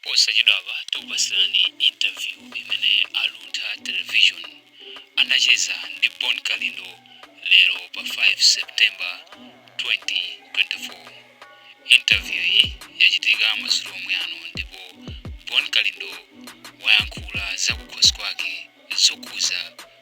Posachedwapa tikupatsirani interview imene a Luntha Television anacheza ndi Bon Kalindo lero pa 5 September 2024. Interview yi yachitika madzulo omwe ano ndipo Bon Kalindo wayankhula zakukhosi kwake zokhuza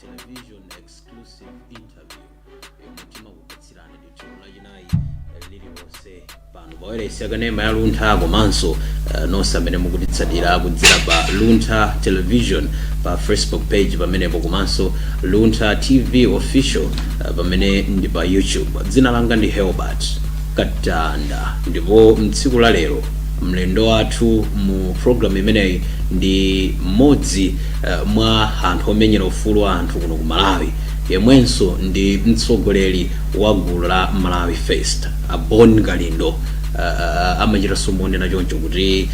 television exclusive interview yomwe timakupatsirani ndithu lachinayi eh, lililonse pano pawailesi yakanema ya luntha komanso eh, nonse amene mukutitsatira kudzera pa luntha television pa facebook page pamenepo komanso luntha tv official eh, pamene ndi pa youtube dzina langa ndi Herbert Katanda ndipo mtsiku la lero mlendo wathu mu programu imeneyi ndi mmodzi eh, mwa anthu omenyera ufulu wa anthu kuno ku malawi yemwenso ndi mtsogoleri wa gulu la malawi first a bon kalindo uh, amachitanso kunena choncho kuti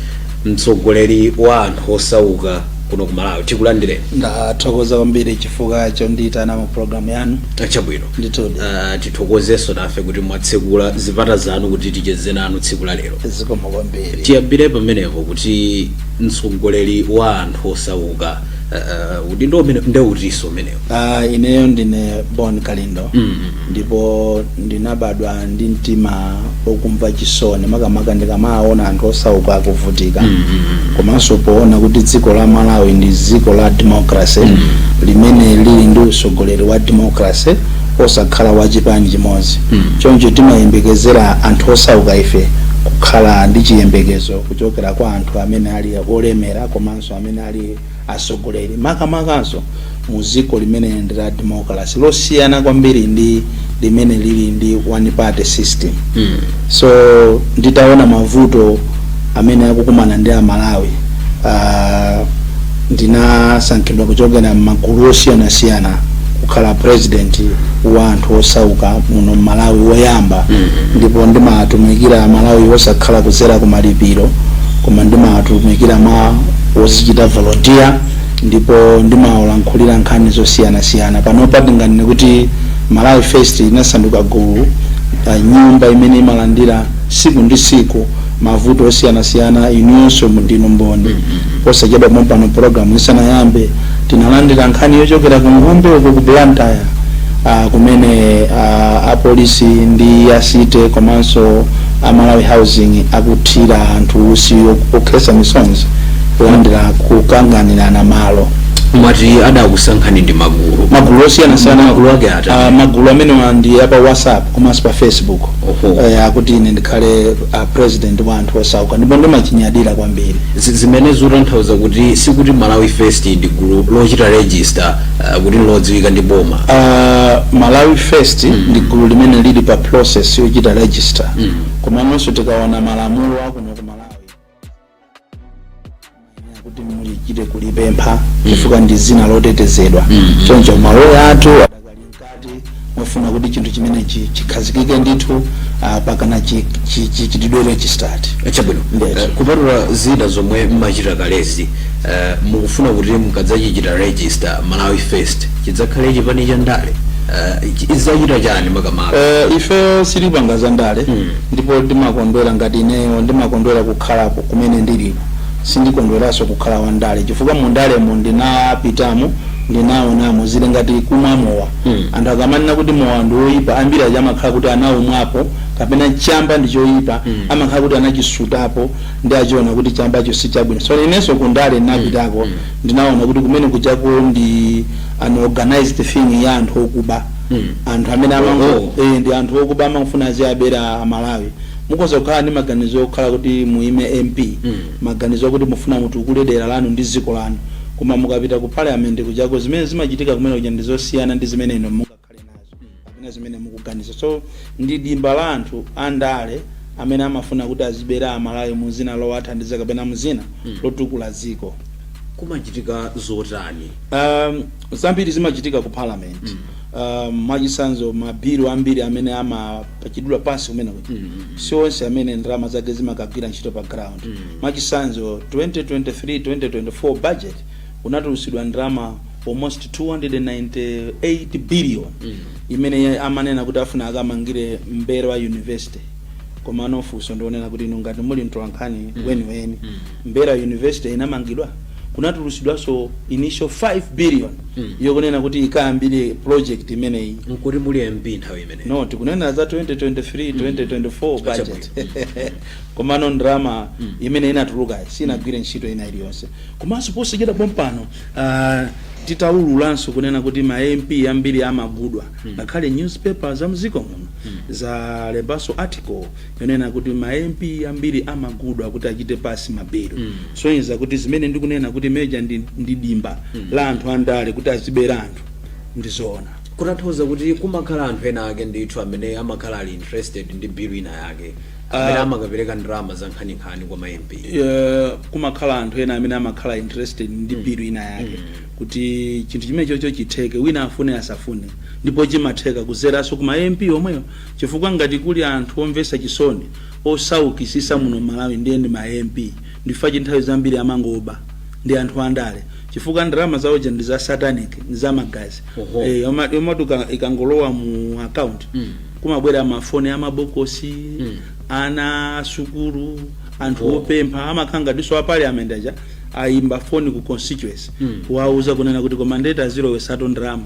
mtsogoleri wa anthu osauka kuno ku malawi tikulandireni ndathokoza kwambiri chifukwa chondiyitana mu programu yanu chabwino ndithudi uh, tithokozenso nafe kuti mwatsekula zipata zanu kuti ticheze nanu tsiku la lero zikomo kwambiri tiyambire pamenepo kuti mtsogoleri wa anthu osauka uh, udindo umene ndiye utinso umenewo Ah, ineyo ndine bon kalindo Mm. ndipo ndinabadwa ndi mtima okumva chisoni makamaka ndikamaona anthu osauka akuvutika komanso poona kuti dziko la malawi ndi dziko la democracy limene lili ndi utsogoleri wa democracy osakhala wa chipani chimodzi choncho timayembekezera anthu osauka ife kukhala ndi chiyembekezo kuchokera kwa anthu amene ali olemera komanso amene ali atsogoleri makamakanso mu dziko limene ndi la democracy losiyana kwambiri ndi limene lili ndi one party system Mm. so nditaona mavuto amene akukumana ndi amalawi uh, Ndinasankhidwa kuchokera mmagulu osiyanasiyana kukhala president wa anthu osauka muno mmalawi woyamba ndipo ndimatumikira amalawi wosakhala kuzera kumalipiro koma ndimatumikira mwa wozichita volunteer ndipo ndimawalankhulira nkhani zosiyanasiyana panopa ndinganene kuti malawi first inasanduka gulu pa nyumba imene imalandira siku ndi siku mavuto osiyanasiyana inuyonso ndinu mboni posachedwa pompano program isanayambe tinalandira nkhani yochokera ku ngumbe uko ku blantyre ah, kumene ah, apolisi ndi a city komanso a malawi housing akuthira anthu usi ok- okhetsa misozi kulandira kukanganirana malo mwati adakusankhani ndi magulu magulu osiyanasiyana Magulu ake ati? ah, magulu amenewa ndi apa whatsapp komanso pa facebook Oho. akuti ine ndikhale uh, president wa anthu osauka ndipo ndimachinyadira kwambiri Zi- zimene zikutanthauza kuti sikuti malawi first ndi gulu lochita register uh, kuti lodziwika ndi boma uh, malawi first ndi gulu limene lili pa process yochita register komanso tikaona malamulo akuno ku malawi kuti mumachita kulipempha chifukwa ndi dzina lotetezedwa choncho maloya athu adakali mkati mofuna kuti chinthu chimenechi chi- chikhazikike ndithu ah, pakana chi- chi- chi- chitidwe registered chabwino Yes. Eh, kupatula zina zomwe mmachita kalezi eh, mukufuna kuti mukadzachichita register malawi first chidzakhale chipani cha ndale Eh, chi- idzachita chani makamaka Eh, ifeyo silipanga za ndale Ndipo ndimakondwera ngati ineyo ndimakondwera kukhalapo kumene ndilipo. Sindikondweranso kukhala wandale chifukwa mu ndalemo ndinapitamo, ndinaonamo. Zili ngati kumwa mowa. Anthu akamanena kuti mowa ndi woipa, ambiri aja amakhala kuti anaumwapo kapena chamba ndi choipa amakhala kuti anachisutapo ndiye anachiona kuti chambacho si chabwino. So inenso ku ndale ndinapitako, ndinaona kuti kumene kujako ndi an organized thing ya anthu okuba. anthu amene ama- eh, ndi anthu okuba amafuna aziwabera amalawi mukhoza kukhala ndi maganizo okhala kuti muime mp maganizo akuti mufuna mutukule dera lanu ndi dziko lanu koma mukapita ku parliament kujako zimene zimachitika kumene kuja ndi zosiyana ndi zimene inu mungakhale nazo kapena zimene mukuganiza so ndi dimba la anthu andale amene amafuna kuti azibera amalawi muzina lowathandiza kapena muzina lotukula dziko kumachitika zotani um, Zambiri zimachitika ku parliament mm. Uh, mwachisanzo mabilu ambiri amene amapasidwa pansi kumene kuja mm -hmm. si onse amene ndalama zake zimakagwira ntchito pa ground mm -hmm. mwachisanzo 2023 2024 budget kunatulusidwa ndalama almost 298 billion mm -hmm. imene amanena kuti afuna akamangire Mombera university komano funso ndi lonena kuti inu ngati muli mtolankhani mm -hmm. weniweni mm -hmm. Mombera university inamangidwa kunatulusidwanso initial 5 billion yokunena kuti ikayambire project imeneyi. Nkuti muli MP nthawi imeneyo? No tikunena za 2023 2024 budget komano ndalama imene inatulukayi sinagwire ntchito ina iliyonse komanso posachedwa pompano tidaululanso kunena kuti ma MP ambiri amagulidwa ngakhale newspapers za m'dziko muno zalembanso article yonena kuti ma MP ambiri amagulidwa kuti achite pass ma bill kusonyeza kuti zimene ndikunena kuti muja ndi, ndi dimba la anthu andale kuti azibera anthu ndi zoona. kutanthauza kuti kumakhala anthu ena ake ndithu amene amakhala ali interested ndi bill ina yake amene Ah. amakapereka ndalama za nkhaninkhani kwa ma MP Eh, kumakhala anthu ena amene amakhala interested ndi bill ina yake kuti chinthu chimenechocho chitheke wina afune asafune ndipo chimatheka kudzeranso ku ma MP omwewo Chifukwa ngati kuli anthu omvesa chisoni osaukisisa muno mmalawi ndiye ndi ma MP nchifukwa chake nthawi zambiri amangoba ndi anthu andale chifukwa ndalama zawo ndi za satanic ndi za magazi Oho. ee yomwe yomwetu ikangolowa mu account kumabwera ma phone a mabokosi ana a sukulu anthu Oho. opempha amakhala ngatiso a parliament aja ayimba phone ku constituency kuwauza kunena kuti koma ndeti azilowesatu ndalama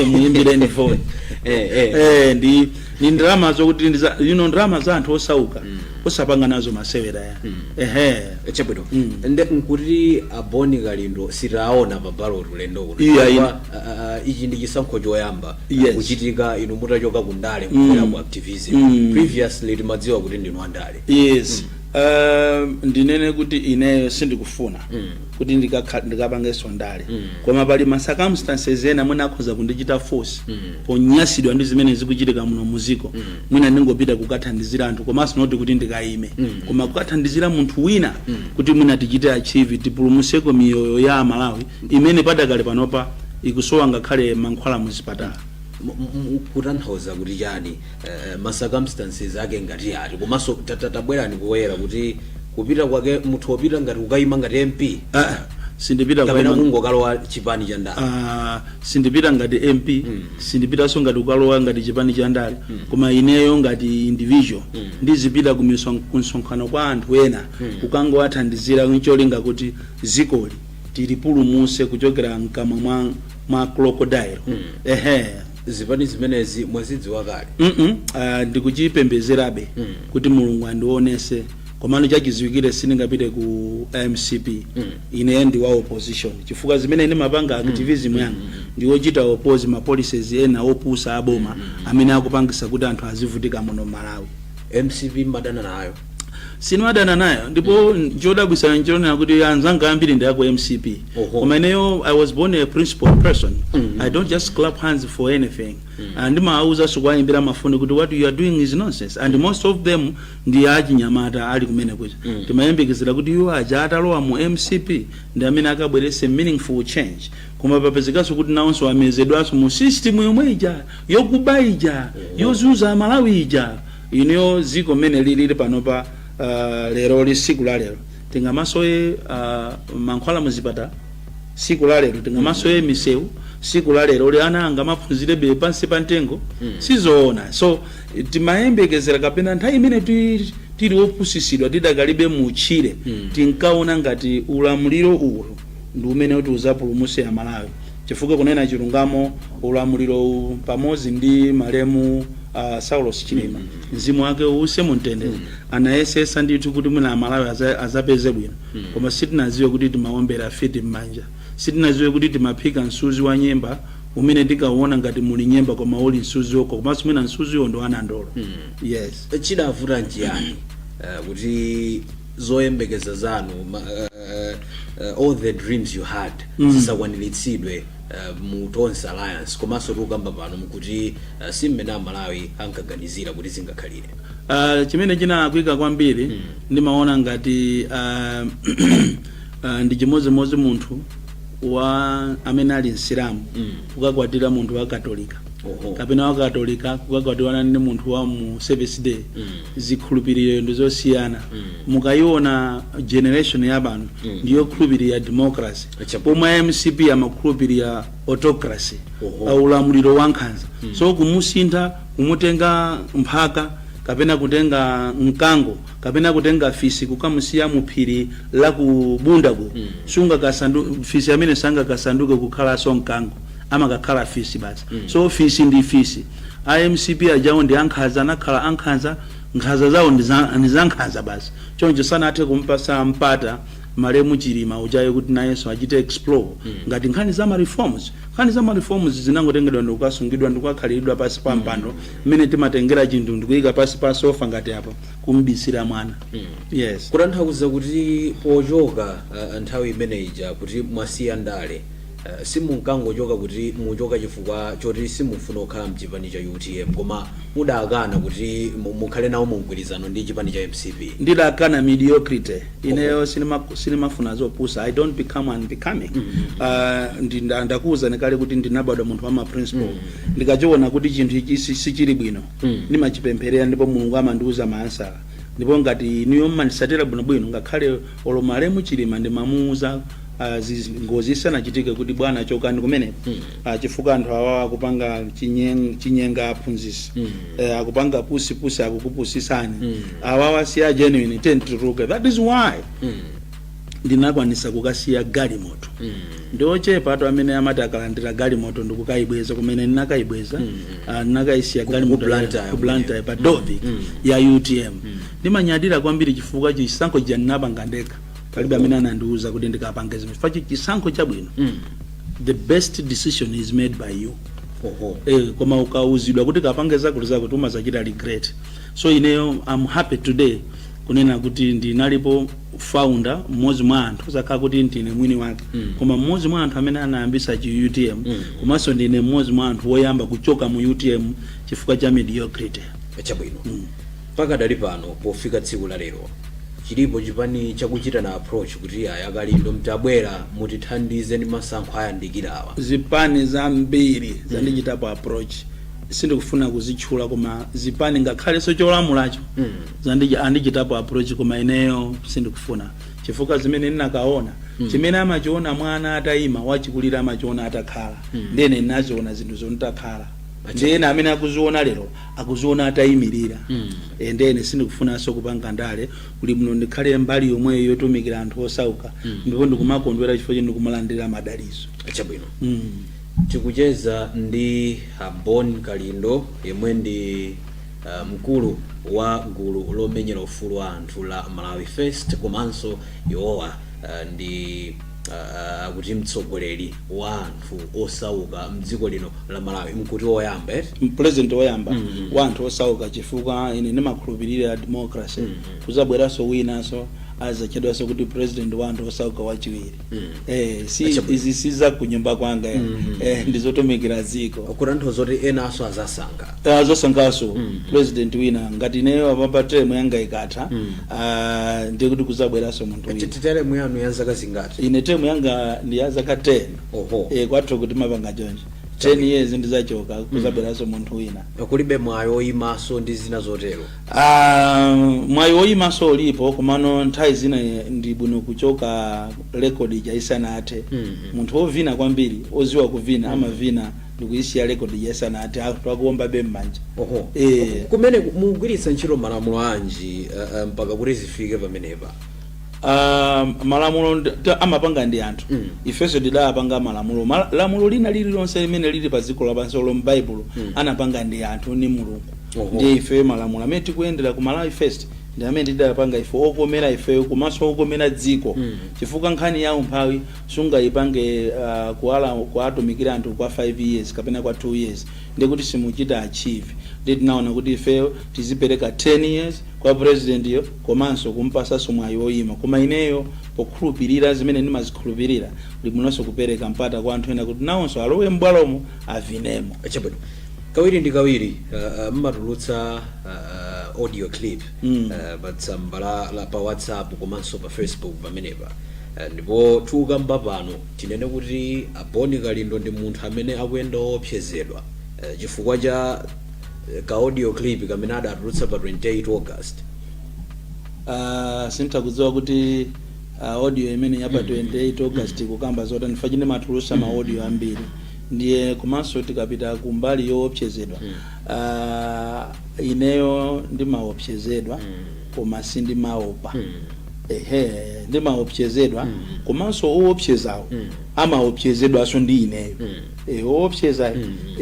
muyimbireni foni eh, eh. eh, ndi ni ndalama zokuti ndi za- you know, ndalama za anthu osauka osapanga nazo masewera ya ehe chabwino Mm. nde nkuti a Bon Kalindo sitiwaona pa ballot ulendo uno Iya, Chifukwa, ina. ah, ah, ichi ndi chisankho choyamba Yes. kuchitika inu mutachoka ku ndale Mm. kubwera ku activism Mm. previously timadziwa kuti ndinu andale yes um, ndinene kuti ineyo sindikufuna Mm. kuti ndikakha- ndikapangenso ndale koma pali ma circumstances ena mwina akhoza kundichita force ponyasidwa ndi zimene zikuchitika muno muziko mwina ndingopita kukathandizira anthu komanso not kuti ndikayime koma kukathandizira munthu wina kuti mwina tichite achieve tipulumuseko miyoyo ya amalawi imene pakadali panopa ikusowa ngakhale mankhwala muzipatala M- m- m- kutanthauza kuti chani eh, ma circumstances ake ngati ati komanso ta- ta- tabwerani poyera kuti kupita kwake muthu kupita ngati kukayima ngati mp Ah, sindipita kapena kungokalowa chipani cha ndale Ah, sindipita ngati mp sindipitanso ngati kukalowa ngati chipani cha ndale koma ineyo ngati individual ndizipita ku miso- ku msonkhano kwa anthu ena kukangowathandizira ncholinga kuti zikoli tilipulumuse kuchokera mkamwa mwa, mwa crocodile ehe zipani zimenezi mwazidziwa kale mm -mm. Uh, ndikuchipembezerabe mm. kuti mulungu andionese komano chachidziwikire sindingapite ku mcp mm. ine ndi wa opposition chifukwa zimene ndimapanga activism mm. yanga ndi yochita oppose ma policies ena opusa aboma mm. amene akupangisa kuti anthu azivutika muno malawi mcp mumadana nayo sindimadana nayo ndipo chodabwisa nchonena kuti anzanga ambiri ndi aku mcp Oho. koma ineyo i was born a principled person i don't just clap hands for anything and ndimaawuzanso kuwayimbira mafoni kuti what you are doing is nonsense and most of them ndi achinyamata ali kumene kuja timayembekezera kuti iwo aja atalowa mu mcp ndi amene akabwerese meaningful change koma papezekanso kuti nawonso amezedwanso mu system yomwe ija yokuba ija yozuza amalawi ija inuyo dziko mmene lilili panopa uh, leroli tsiku la lero tingamasowe uh, mankhwala muzipatala tsiku la lero tingamasowe misewu tsiku la leroli ana angamaphunzirebe pansi pa mtengo sizoona so timayembekezera kapena nthawi imene ti- tili opusisidwa tidakalibe mutchire tinkaona ngati ulamuliro uwu ndi umene kuti uzapulumuse amalawi chifukwa kunena chilungamo ulamulirowu pamodzi ndi malemu a Saulos Chilima mzimu wake uuse mumtendere anayesetsa ndithu kuti mwina amalawi aza- azapeze bwino koma sitinaziwe kuti timaombera fiti m'manja sitinaziwe kuti timaphika msuzi wa nyemba umene tinkauona ngati muli nyemba koma uli msuzi wokha komanso mwina msuziwo ndi wanandolo yes chidavuta nchiyani eh, kuti zoyembekeza zanu ma- eh, uh, all the dreams you had mm. zisakwaniritsidwe uh, mu tonse alliance komanso tikukamba pano mukuti uh, si mmene amalawi ankaganizira kuti zingakhalire uh, chimene chinalakwika kwambiri mm. ndimaona ngati uh, uh, ndi chimodzimodzi munthu wa amene ali msilamu mm. kukakwatira munthu wa katolika Oho. kapena wa katolika kukakwatirana ndi munthu wa mu Seventh Day mm. zikhulupiriro ndi zosiyana mm. mukayiona generation ya pano mm. ndiyokhulupirira democracy pomwe a mcp amakhulupirira autocracy uh, ulamuliro wa nkhanza mm. so kumusintha kumutenga mphaka kapena kutenga mkango kapena kutenga fisi kukamusiya muphiri la kubundako mm. singakasandu- fisi amene sangakasanduke kukhalanso mkango amakakhala fisi basi mm. so fisi ndi fisi a mcp ajawo ndi ankhanza anakhala ankhanza Nkhanza zawo ndi za ndi za nkhanza basi. Choncho sanathe kumupatsa mpata malemu Chilima ujayo kuti nayenso achite explore ngati nkhani za ma reforms. Nkhani za ma reforms zinangotengedwa ndikukasungidwa ndikukakhaliridwa pansi pa mpando mmene timatengera chinthu ndikuika pansi pa sofa ngati apo kumubisira mwana. Yes. Kutanthauza kuti pochoka ah, nthawi imene ija kuti mwasiya ndale. Eh, simunkangochoka kuti mukuchoka chifukwa choti simufuna kukhala mchipani cha utm koma mudakana kuti mu- mukhale nawo mu mgwirizano ndi chipani cha mcp ndidakana mediocrity ineyo sinima- sinimafuna zopusa i don't become unbecoming Ah, ndi- nda- ndakuwuzani kale kuti ndinabadwa munthu wa maprinciple ndikachiona kuti chinthu ichi si- sichili bwino ndimachipempherera ndipo mulungu amandiwuza maansala ndipo ngati inuyo mumanditsatira bwinobwino ngakhale Olo malemu chilima ndimamuuza as is ngozi isanachitike kuti bwana chokani kumeneko Ah, chifukwa anthu awawa akupanga chinyeng- chinyenga aphunzitsi Eh, akupanga pusi pusi akukupusitsani awawa si a genuine tiyeni tituluke that is why ndinakwanitsa kukasiya galimoto ndi ochepa anthu amene amati akalandira galimoto ndikukayibweza kumene ndinakayibweza ah, ndinakayisiya galimoto Blantyre ku Blantyre pa ofesi ya utm Ndimanyadira kwambiri chifukwa chisankho chija ndinapanga ndekha palibe amene anandiuza kuti ndikapange zimenezo chifukwa chi- chisankho chabwino the best decision is made by you Oho. eh, koma ukauzidwa kuti kapange zakuti zakuti umazachita regret so ineyo am happy today kunena kuti ndinalipo founder mmodzi mwa anthu sizakhala kuti ndine mwini wake koma mmodzi mwa anthu amene anayambisa chi utm komanso ndine mmodzi mwa anthu woyamba kuchoka mu utm chifukwa cha mediocrity Chabwino. Pakadali pano pofika tsiku la lero chilipo chipani chakuchitana approach kuti yayi akalindo mtabwera mutithandize nde masankho ayandikirawa? Zipani zambiri zandichitapo approach sindikufuna kuzitchula koma zipani ngakhalenso cholamulacho zandich andichitapo approach koma ineyo sindikufuna chifukwa zimene ndinakaona chimene amachiona mwana atayima wachikulire amachiona atakhala nde ine ndinaziona zinthuzo nditakhala nde ena amene akuziona lero akuziona atayimilira ndiyeno sindikufunanso kupanga ndale kuli bwino ndikhale mbali yomweyo yotumikira anthu osauka ndipo ndikumakondwera chifukwa choti ndikumalandira madaliso chabwino mm. tikucheza ndi abon kalindo yemwe ndi uh, mkulu wa gulu lomenyera ufulu wa anthu la malawi first komanso iwowa uh, ndi akuti mtsogoleri wa anthu osauka mdziko lino la malawi muziti woyamba eti president woyamba mm -hmm. wa anthu osauka chifukwa ine ndimakhulupirira democracy mm -hmm. kuzabweranso winanso azatchedwanso kuti president wa anthu osauka wachiwiri mm -hmm. eh, Chabwino. izi si za kunyumba kwanga mm -hmm. eh, ndizotumikira dziko kutanthauza kuti enanso azasankha azasankhaso president wina ngati ineyo apapa term yanga ikatha ah, ndiye kuti kuzabweraso munthu wina term yanu ndi ya zaka zingati ine term yanga ndi ya zaka 10 Oho. eh kwathu kuno timapanga chonje 10 years ndizachoka kuzabweraso munthu wina kulibe mwayi oyimaso ndi zina zotero Ah, mwayi woyimaso ulipo komano nthawi zina ndi bwino kuchoka rekodi ija isanathe munthu wovina kwambiri oziwa kuvina amavina ndikuyisiya record ija isanathe akuombabe mmanja oho Eh. kumeneku mukugwiritsa ntchito malamulo anji eh, eh, mpaka kuti zifike pamenepa Ah, malamulo nd- ta- amapanga ndi anthu Mm. ifenso tidapanga malamulo Ma- lamulo lina lililonse limene lili pa dziko lapansi olo m'baibulo Mm. anapanga ndi anthu ni mulungu Oho. ndiye ifeyo malamulo amene tikuyendera ku malawi first ndi amene tidapanga ife okomera ifeyo komanso okomera dziko Mm. chifukwa nkhani ya umphawi sungayipange kuwatumikira anthu kwa 5 years kapena kwa 2 years ndiye kuti simuchita achieve ndiye tinaona kuti ifeyo tizipereka 10 years kwa president yo komanso kumpasanso mwayi oyima koma ineyo pokhulupilira zimene ndimazikhulupilira ndibwinonso kupereka mpata kwa anthu ena kuti nawonso alowe m'bwalomo avinemo chabwino kawiri ndi kawiri uh, uh, mumatulutsa uh, uh, audio clip Mm. uh, pa tsamba la, la pa whatsapp komanso pa facebook pamenepa Ndipo tikukamba pano, tinene kuti a Bon Kalindo ndi munthu amene akuyenda owopsezedwa chifukwa cha ka audio clip kamene adatulutsa pa 28 August. Sinditha kudziwa kuti audio imene ya pa 28 August ikukamba zotani chifukwa chindimatulutsa ma audio ambiri ndiye komanso tikapita ku mbali yowopsezedwa, ineyo ndimawopsezedwa koma sindimaopa. Ehe, ndimaopsezedwa komanso oopsezawo amaopsezedwanso ndi ineyo Eh, oopseza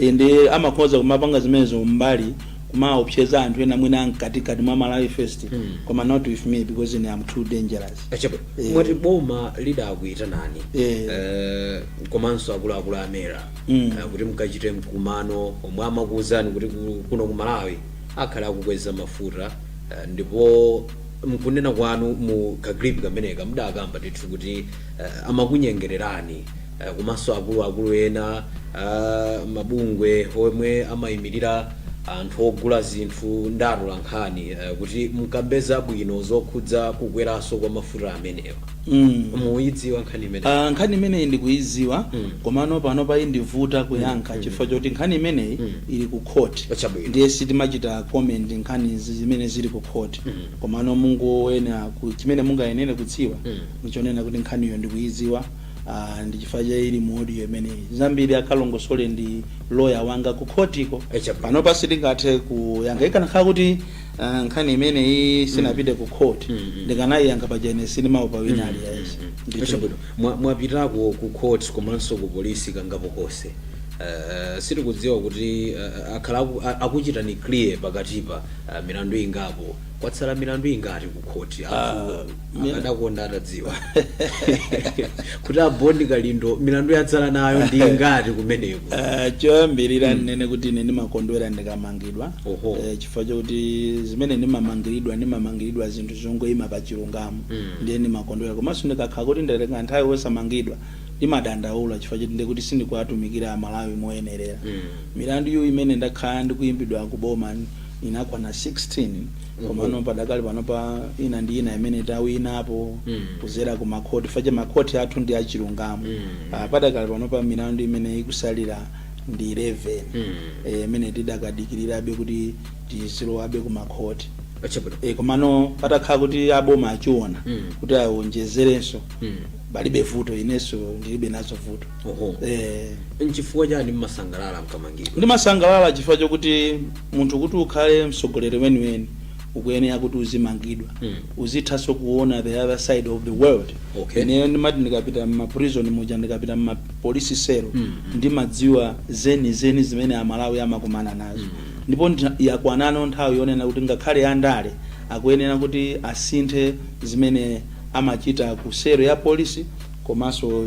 eh, nde amakhoza kumapanga zimenezo mbali kumaopseza anthu ena mwina amkatikati mwa malawi first koma not with me because ine am too dangerous Chabwino, Eh. mumati boma lidakuyitanani Eh. eh, komanso akuluakulu a mera Mm. eh, kuti mukachite mkumano omwe amakuwuzani kuti ku- kuno ku malawi akhala akukweza mafuta eh, ndipo mkunena kwanu mu ka clip kameneka mudakamba ndithu kuti uh, amakunyengererani uh, komanso akuluakulu ena uh, mabungwe omwe amayimirira anthu ogula zinthu ndi atolankhani uh, kuti mkambe zabwino zokhudza kukweranso kwa mafuta amenewa mm. muyidziwa nkhani imeneyi Ah, nkhani imeneyi ndikuyidziwa Mm. komano panopa indivuta kuyankha chifukwa choti nkhani imeneyi ili ku court Chabwino. ndiye sitimachita comment nkhani zi- zimene zili ku court komano mungoyenera ku- chimene mungayenere kudziwa ndichonena kuti nkhaniyo ndikuyidziwa ah, ndi chifukwa chake ili mu audio imeneyi zambiri akalongosole ndi loya wanga ku khotiko Eh chabwino. panopa sitingathe kuyankha ikanakhala kuti ah, nkhani imeneyi sinapite ku khoti ndikanayiyankha paja ine sindimaopa wina aliyense Eh chabwino. Mwa- mwapitako ku court komanso ku polisi kangapo konse Eh, sitikudziwa kuti eh, akhala aku- a- akuchitani clear pakatipa Ah, milandu ingapo kwatsala milandu ingati ku khoti anthu mil- akadakonda atadziwa kuti a bon kalindo milandu atsala nayo ndi ingati kumeneko Ah, choyambirira ndinene kuti ine ndimakondwera ndikamangidwa Oho. Eh, chifukwa chokuti zimene ndimamangiridwa ndimamangiridwa zinthu zongoyima pa chilungamo ndiye ndimakondwera komanso ndikakhala kuti ndatenga nthawi wosamangidwa ndimadandaula chifukwa choti ndekuti sindikuwatumikira amalawi moyenerera milandu iyo imene ndakhala ndikuyimbidwa ku boma inakwana 16 komano padakali panopa ina ndi ina imene tawinapo kuzera ku makhoti chifukwa cha makhoti athu ndi achilungamo Ah, padakali panopa milandu imene ikutsalira ndi 11 eh, imene tidakadikirirabe kuti tizilowabe ku makhoti chabwino e, komano patakhala kuti aboma achiona kuti awonjezerenso palibe vuto inenso ndilibe nazo vuto Oho. eh, nchifukwa chiyani mmasangalala mkamangidwa ndimasangalala chifukwa chokuti munthu kuti ukhale mtsogoleri weniweni ukuyenera kuti uzimangidwa Mm. uzithanso kuona the other side of the world Okay. ineyo ndimati ndikapita mmaprison muja ndikapita mmapolisi selo Mm, mm. ndimadziwa zenizeni zimene amalawi amakumana nazo ndipo ndina- yakwanano nthawi yonena kuti ngakhale andale akuyenera kuti asinthe zimene amachita ku selo ya polisi komanso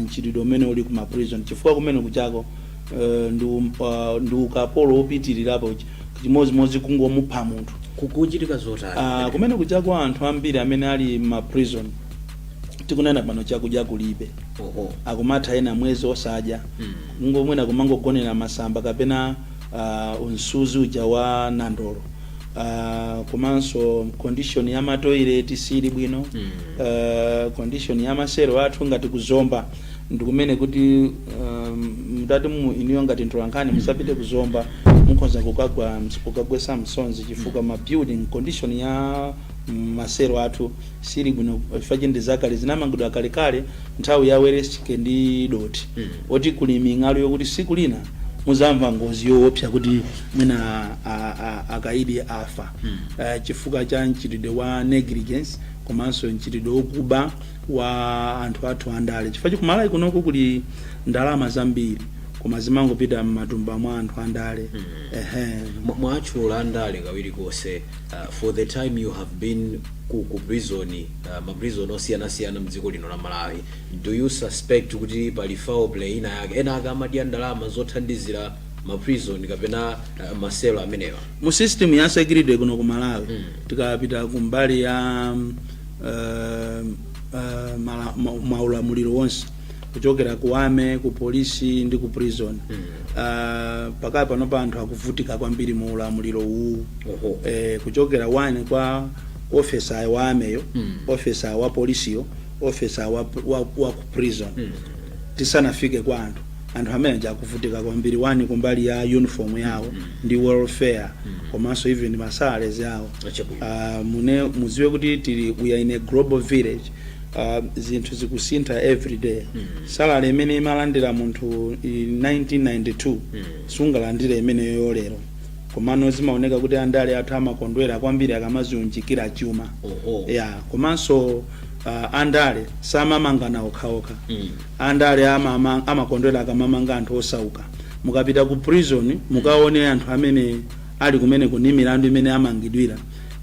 mchitidwe umene uli ku ma prison chifukwa kumene kujako eh, ndi um- ah, ndi ukapolo wopitirirapo chimodzimodzi kungomupha munthu kukuchitika zotani Ah, kumene kujako anthu ambiri amene ali m'ma prison tikunena pano chakudya kulibe oho akumatha ena mwezi osadya Mm. ngomwena kumangogonera masamba kapena uh, nsuzi uja wa nandolo uh, komanso condition ya matoilet sili bwino uh, condition ya maselo athu ngati ku Zomba ndikumene kuti um, mutati inuyo ngati mtolankhani mutapita ku Zomba mukhoza kukagwa kukagwetsa misozi chifukwa ma building condition ya maselo athu sili bwino chifukwa ndi zakale zinamangidwa kalekale nthawi ya Welensky ndi dothi oti kuli ming'alu yokuti tsiku lina mudzamva ngozi yoopsa kuti mwina a- a- akaidi afa Eh, chifukwa cha mchitidwe wa negligence komanso mchitidwe wokuba wa anthu athu andale chifukwa ku Malawi kunoko kuli ndalama zambiri koma zimangopita m'matumba mwa anthu andale ehe Mwa- mwatchula andale kawiri konse uh, for the time you have been ku, ku prison uh, ma prison osiyanasiyana mdziko lino la malawi Do you suspect kuti pali foul play ina yake? Ena ake amadya ndalama zothandizira ma prison kapena uh, ma cell amenewa. mu system ya security kuno ku malawi tikapita ku mbali ya mm, eh, eh, mala- ma- maulamuliro onse kuchokera ku army ku polisi ndi ku prison Eh, pakali panopa anthu akuvutika kwambiri mu ulamuliro uwu Oho. eh, kuchokera wani kwa ofesa wa army yo ofesa wa polisiyo officer wa, wa, wa ku prison tisanafike kwa anthu anthu amene aja akuvutika kwambiri wani kumbali ya uniform yawo ndi welfare komanso even masalary awo Achabwino. uh, mune muziwe kuti tili we are in a global village uh, zinthu zikusintha every day salary imene imalandira munthu i- 1992 sungalandire imeneyo lero komano zimaoneka kuti andale athu amakondwera kwambiri akamaziunjikira chuma Oho. ya komanso ah, andale samamangana okhaokha Mm. andale amama- amakondwera akamamanga anthu osauka mukapita ku prison mukaone anthu amene ali kumeneko ni milandu imene amangidwira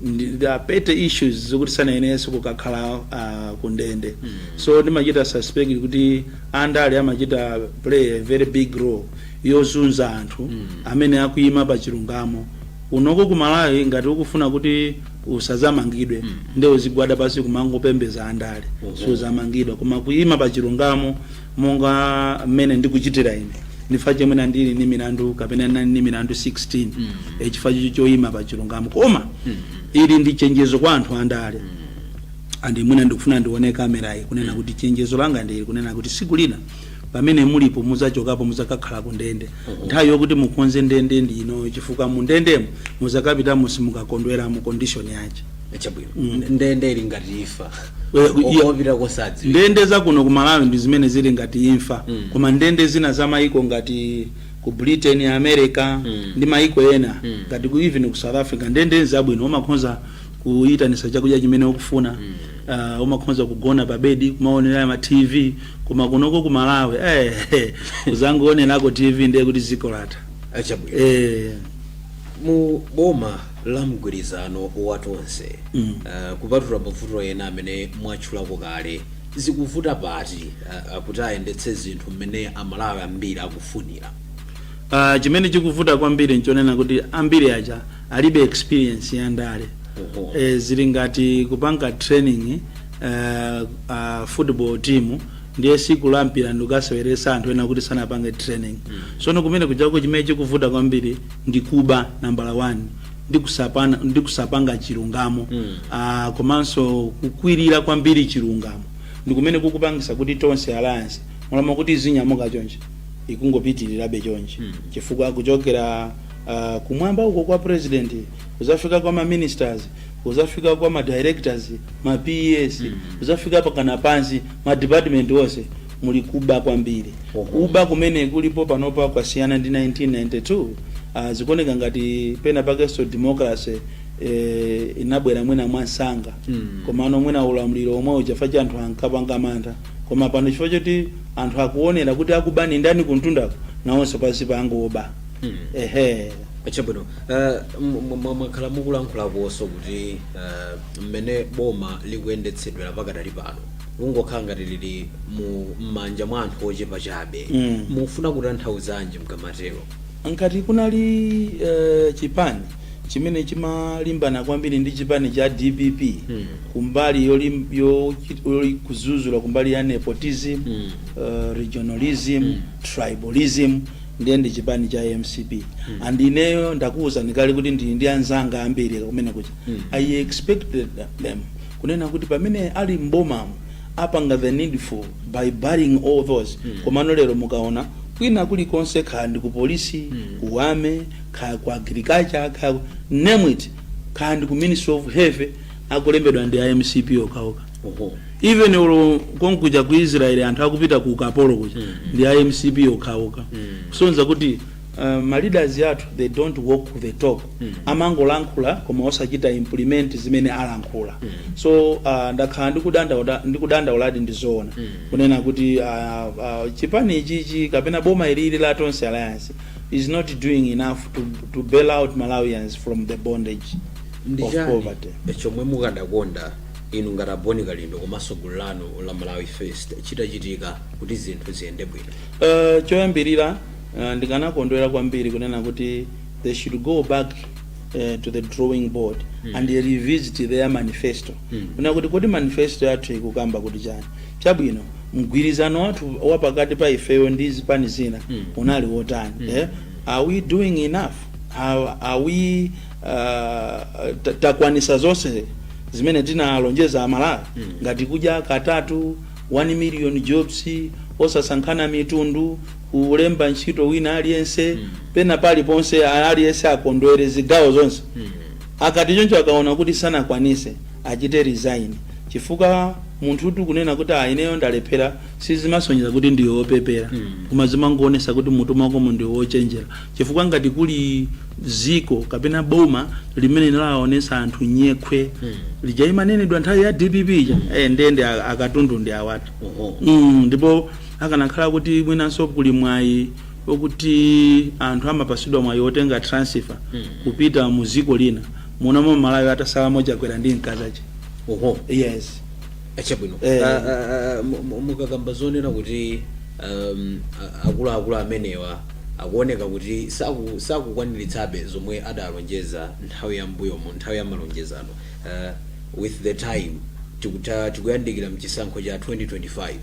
Ndi- they are petty issues zokuti sanayenerenso kukakhala ah, ku ndende so ndimachita suspect kuti andale amachita play a very big role yozunza anthu amene akuyima pa chilungamo unoko ku malawi ngati ukufuna kuti usazamangidwe nde uzigwada pasi kumangopembeza andale suzamangidwa koma kuyima pa chilungamo monga mmene ndikuchitira ine ndi chifukwa chake nandili ni milandu kapena nani ni milandu 16 e chifukwa cho choyima pa chilungamo koma ili ndi chenjezo kwa anthu andale andi mwina ndikufuna ndione kamerayi kunena kuti chenjezo langa ndili kunena kuti siku lina pamene mulipo muzachokapo muzakakhala ku ndende nthawi yokuti mukonze ndende ndi inoyo chifukwa mu ndendemo muzakapitamo simukakondwera mmu condition yache chabwino ndende ili ngati imfa Eh, iya- okopita kosadzi ndende zakuno ku malawi ndi zimene zili ngati imfa Mm. koma ndende zina za maiko ngati ku britain america Mm. ndi maiko ena Mm. ngati ku even ku south africa ndende zabwino umakhonza kuyitanisa chakudya chimene ukufuna Ah, umakhonza kugona pa bedi kumaonera ma tv koma kunoko ku malawi eh, kuzangoonelako tv ndiye kuti ziko latha achabwino eh, mu boma la mgwirizano wa tonse Mm. uh, kupatula mavuto ena amene mwatchulako kale zikuvuta pati uh, kuti ayendetse zinthu mmene amalawi ambiri akufunira ah, chimene chikuvuta kwambiri nchonena kuti ambiri aja alibe experience ya ndale Oho. eh, zili ngati kupanga training uh, uh, football team ndiye siku la mpira ndikukaseweresa anthu ena okuti sanapange training sono kumene kujako chimene chikuvuta kwambiri ndi kuba nambala 1 ndi kusapana ndi kusapanga chilungamo Ah, komanso kukwirira kwambiri chilungamo ndi kumene kukupangisa kuti tonse alliance m'malo mokuti izinyamuka chonje ikungopitirirabe chonje chifukwa kuchokera ah, kumwamba uko kwa president kuzafika kwa ma ministers kuzafika kwa ma directors ma PS kuzafika mpakana pansi ma department onse muli kuba kwambiri kuba kumene kulipo panopa kwasiyana ndi 1992 uh, zikuoneka ngati penapakenso democracy eh, inabwera mwina mwamsanga Mm. komano mwina ulamuliro omwe uja fact ya anthu ankapanga mantha koma pano chifukwa choti anthu akuonera kuti akuba ndi ndani kumtundako nawonso pansi pangoba Mm. ehe chabwino eh, m- m- m- mwakhala mukulankhulakonso kuti eh, mmene boma likuyendetsedwera pakadali pano likungokhala ngati lili mu m'manja mwa anthu ochepa chabe Mm. mukufuna kutanthauzanji mkamatero ngati kunali eh, chipani chimene chimalimbana kwambiri ndi chipani cha dpp Mm. kumbali yolim- yo- yoli- kudzudzula kumbali ya nepotism Mm. eh, regionalism tribalism ndiye ndi chipani cha mcp and ineyo ndakuwuzani kale kuti ndili ndi anzanga ambiri kumene kuja i expected them kunena kuti pamene ali mbomamo apanga the needful by barring all those komano lero mukaona kwina kulikonse kaya ndi ku polisi ku army kaya ku agriculture kaya name it kaya ndi ku ministry of health akulembedwa ndi a mcp okhaokha even olo konkuja ku israel anthu akupita ku ukapolo kuja ndi a mcp okhaokha kusonyeza kuti uh, ma leaders athu they don't walk the talk amangolankhula koma osachita implement zimene alankhula so uh, ndakhala ndikudandaula- ndikudandauladi ndizoona kunena kuti uh, uh, chipani ichichi kapena boma ilili la tonse alliance is not doing enough to, to bail out malawians from the bondage of poverty ndichani chomwe mukadakonda inu ngati a Bon Kalindo komanso gulu lanu la Malawi First chitachitika kuti zinthu ziyende bwino? Uh, choyambirira uh, ndikanakondwera kwambiri kunena kuti they should go back uh, to the drawing board mm. and revisit their manifesto mm. kunena kuti kodi manifesto yathu ikukamba kuti chani chabwino mgwirizano wathu wa pakati pa ifeyo ndi zipani zina mm. unali wotani mm. eh? are we doing enough are, are we uh, ta- takwanisa zonse zimene tinalonjeza amalawi mm. ngati kudya katatu 1 million jobs osasankhana mitundu kulemba ntchito wina aliyense mm. pena paliponse aliyense akondwere zigawo zonse mm. akati choncho akaona kuti sanakwanise achite resign chifukwa munthu ukati kunena kuti "Ah, ineyo ndalephera sizimasonyeza kuti ndiwe wopepera mm. koma zimangoonetsa kuti m'mutu mwakomo ndiwe wochenjera Chifukwa ngati kuli ziko kapena boma limene linawaonesa anthu nyekhwe ija imanenedwa nthawi ya dpp ija eh, ndiye ndi a- akatundu ndi awatu Oho. mm, ndipo akanakhala kuti mwinanso kuli mwayi okuti anthu amapasidwa mwayi otenga transfer kupita mu ziko lina muno m'malawi atasalamo chakwera ndi mkazake Oho. yes chabwino Eh. Ah, ah, ah, mu- mu- mukakamba zonena kuti um, a- akuluakulu amenewa akuoneka kuti saku- sakukwaniritsabe zomwe adalonjeza nthawi ya mbuyomu nthawi ya malonjezano uh, with the time tikuta tikuyandikira mchisankho cha 2025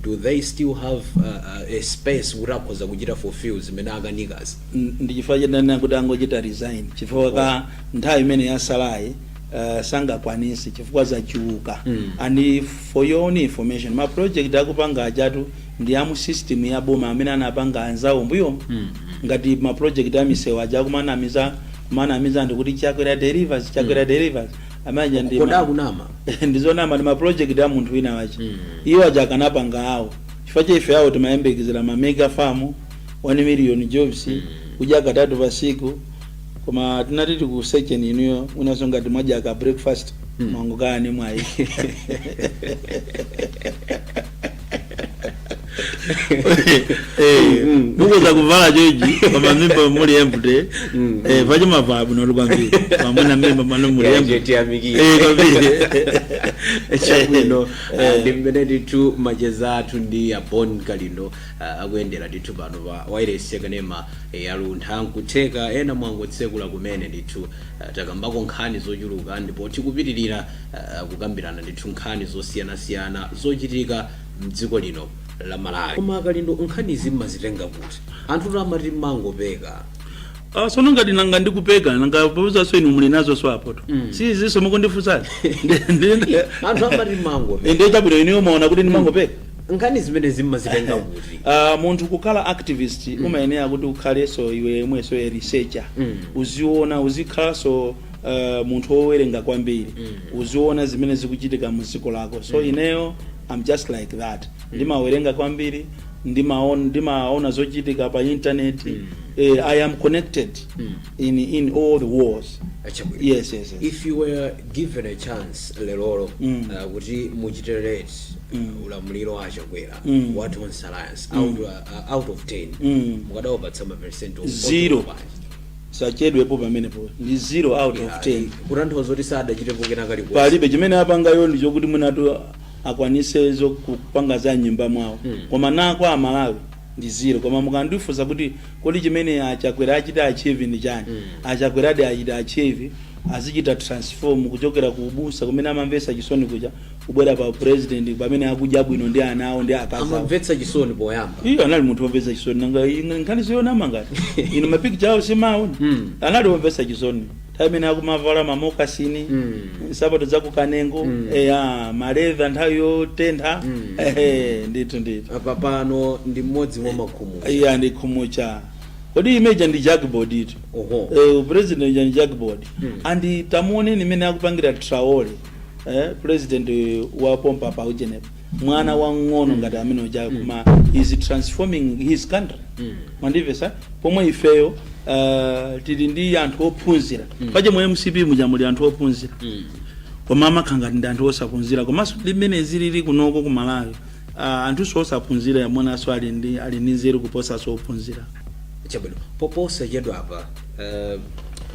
do they still have uh, uh, a space kuti akhoza kuchita fulfill zimene akanikazo N- ndi chifukwa chake ndanena kuti angochita resign chifukwa ka nthawi imene yatsalayi uh, sangakwanise chifukwa zachuluka mm. and for your own information ma project akupanga ajatu ndi amu system ya boma amene anapanga anzawo mbuyo mm. ngati ma project amisewu aja kumanamiza kumanamiza ndikuti chakwera delivers chakwera mm. delivers amene amakonda kunama ndizonama ndi ma project a munthu wina wake mm. iwo aja akanapanga awo chifukwa chake ife awo timayembekezera ma mega farm 1 million jobs mm. kudya katatu pasiku Koma tinati tikusecheni inuyo mwinaso ngati mwadya ka breakfast mwangochita mwayi. mukoza kuvala joji koma mimba muli empty eh paja mwavala bwino kwambiri pamene mmimba mwanu muli empty eh tiyamikire kwambiri chabwino Eh. ndi mmene ndithu macheza athu ndi abon kalindo ah, akuyendera ndithu pano pa wailesi yakanema eh, ya luntha nkutheka ena mwangotsekula kumene ndithu ah, takambako nkhani zochuluka ndipo tikupitirira ah, kukambirana ndithu nkhani zosiyanasiyana zochitika mdziko lino la malawi koma akalindo nkhanizi mumazitenga kuti anthu amati mumangopeka Ah, sono ngati nanga ndikupeka nanga bwanjinso inu muli nazonso apo si izi mukundifunsazi anthu amati mumangopeka nde chabwino ineyo mumaona kuti ndimangopeka nkhani zimenezi mumazitenga kuti Uh, munthu kukhala activist mm. umayenera kuti ukhalenso iwe yemwenso a researcher Mm. uziona uzikhalanso uh, munthu wowerenga kwambiri mm. uziona zimene zikuchitika mu dziko lako so mm. ineyo i'm just like that ndimawerenga kwambiri ndimaona ndimaona zochitika pa internet mm. eh, i am connected mm. in, in all the ways Ah chabwino. yes yes, yes. if you were given a chance lerolino Mm. uh, kuti muchite rate ulamuliro wa achakwera wa tonse alliance out, uh, out of 10 mukadawapatsa maperesenti o- Zero. ochepa bwanji? sachedwepo pamenepo ndi 0 out of 10 kutanthauza kuti sadachitepo kena kalikonse palibe chimene apanga iwo ndi chokuti mwinatu akwanise zo kupanga za nyumba mwawo koma nga kwa amalawi ndi zero koma mukandifunsa kuti kodi chimene achakwera achita achieve ndi chani achakweradi achita achieve azichita transform kuchokera ku ubusa kumene amamvetsa chisoni kuja kubwera pa upresident pamene akudya bwino ndi ana awo ndi akazi awo amamvetsa chisoni poyamba iwo anali munthu womvetsa chisoni nanga ine nkhani siyonama ngati ine mapikcha awo simaona Mm. anali womvetsa chisoni nthawi imene akumavala mamokasini Mm. nsapato zakukanengo Mm. eya maleva nthawi yotentha Mm. ehe ndithu ndithu apa pano ndi mmodzi mwa makhumudwa iya ndi khumutcha kodi ujeni ndi jackboard itu oho Eh, president jan jackboard Mm. and tamuoneni mmene akupangira traole eh, president wa pompa pa ujenipa mwana wang'ono ngati amene uja koma he is transforming his country mwandimvetsa pomwe ifeyo uh, tili ndi anthu ophunzira paja mu mcp muja muli anthu ophunzira koma amakhala ngati ndi anthu osaphunzira komanso mmene zilili kunoko ku malawi uh, anthu osaphunzira amenenso ali ndi ali ndi nzeru kuposanso ophunzira chabwino posachedwapa Eh,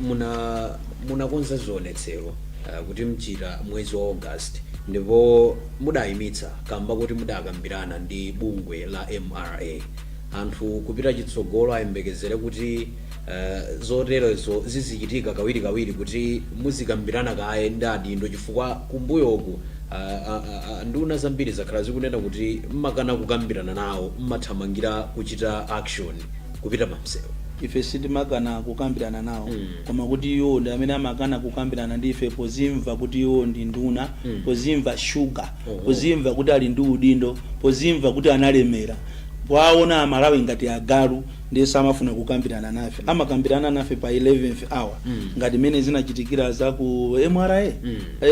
muna munakonza zionetsero eh, kuti muchita mwezi wa august ndipo mudayimitsa kamba kuti mudakambirana ndi bungwe la mra anthu kupita chitsogolo ayembekezere kuti eh, zoterezo zizichitika kawirikawiri kuti muzikambirana kaye ndi adindo chifukwa kumbuyoku ah, ah, ah, nduna zambiri zakhala zikunena kuti mmakana kukambirana nawo mmathamangira kuchita action kupita pamsewu ife sitimakana kukambirana nawo koma kuti iwo ndi amene amakana kukambirana ndi ife pozimva kuti iwo ndi nduna pozimva shuga pozimva kuti ali ndi udindo pozimva kuti analemera powaona amalawi ngati agalu ndiye samafuna kukambirana nafe amakambirana nafe pa 11th hour ngati mmene zinachitikira za ku mra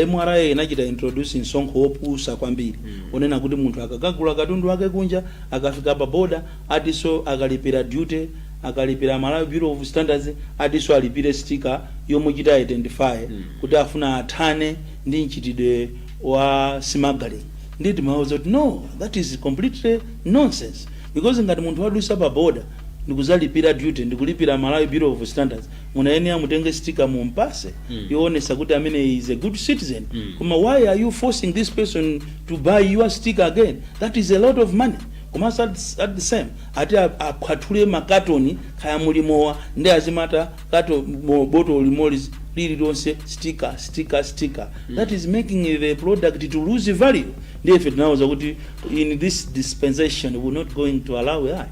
mra inachita introduce msonkho wopusa kwambiri onena kuti munthu akakagula katundu wake kunja akafika pa boda atiso akalipira duty, akalipira Malawi Bureau of Standards atiso alipire sticker yomuchita identify kuti afuna athane ndi mchitidwe wa smuggling ndiye timawauza kuti no that is completely nonsense because ngati munthu wadusa pa border ndikuzalipira duty ndikulipira Malawi Bureau of Standards munayenera mutenge sticker mumpase yoonesa kuti ameneyi is a good citizen koma why are you forcing this person to buy your sticker again that is a lot of money Komanso at at the same ati a, aphwathule ma katoni kaya muli mowa nde azimata kato mo, botolo limodzi lililonse sticker sticker sticker that is making the product to lose value ndiye ife tinawauza kuti in this dispensation we are not going to allow that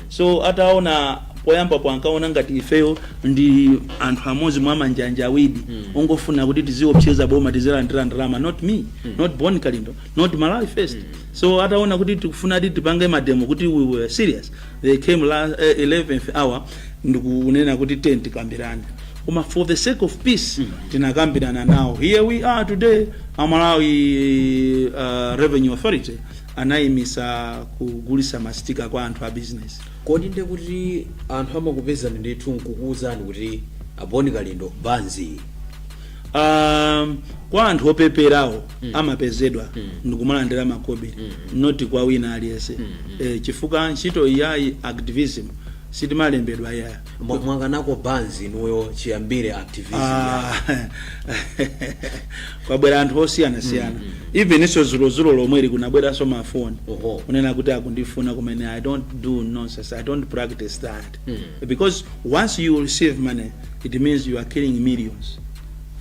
so ataona poyambapo ankaona ngati ifeyo ndi anthu amodzi mwa manjanjawidi ongofuna kuti tiziopseza boma tizilandira ndalama not me not bon kalindo not malawi first So ataona kuti tikufunadi tipange mademo kuti we were serious they came la, eh, 11th hour ndikunena kuti tiyeni tikambirane koma for the sake of peace tinakambirana nawo here we are today a malawi uh, revenue authority anayimisa kugulisa masitika kwa anthu a business kodi nde kuti anthu amakupezani ndithu nkukuwuzani kuti a bon kalindo banzi um, kwa anthu opeperawo amapezedwa ndikumalandira makobiri not kwa wina aliyense eh, chifukwa ntchito ya activism sitimalembedwa yaya Mwa- mwakanako banzi inuyo chiyambire activism Ah, kwabwera anthu osiyanasiyana evenso zulozulo lomweli kunabweranso mafoni Oho. kunena kuti akundifuna kumene i don't do nonsense i don't practice that because once you receive money it means you are killing millions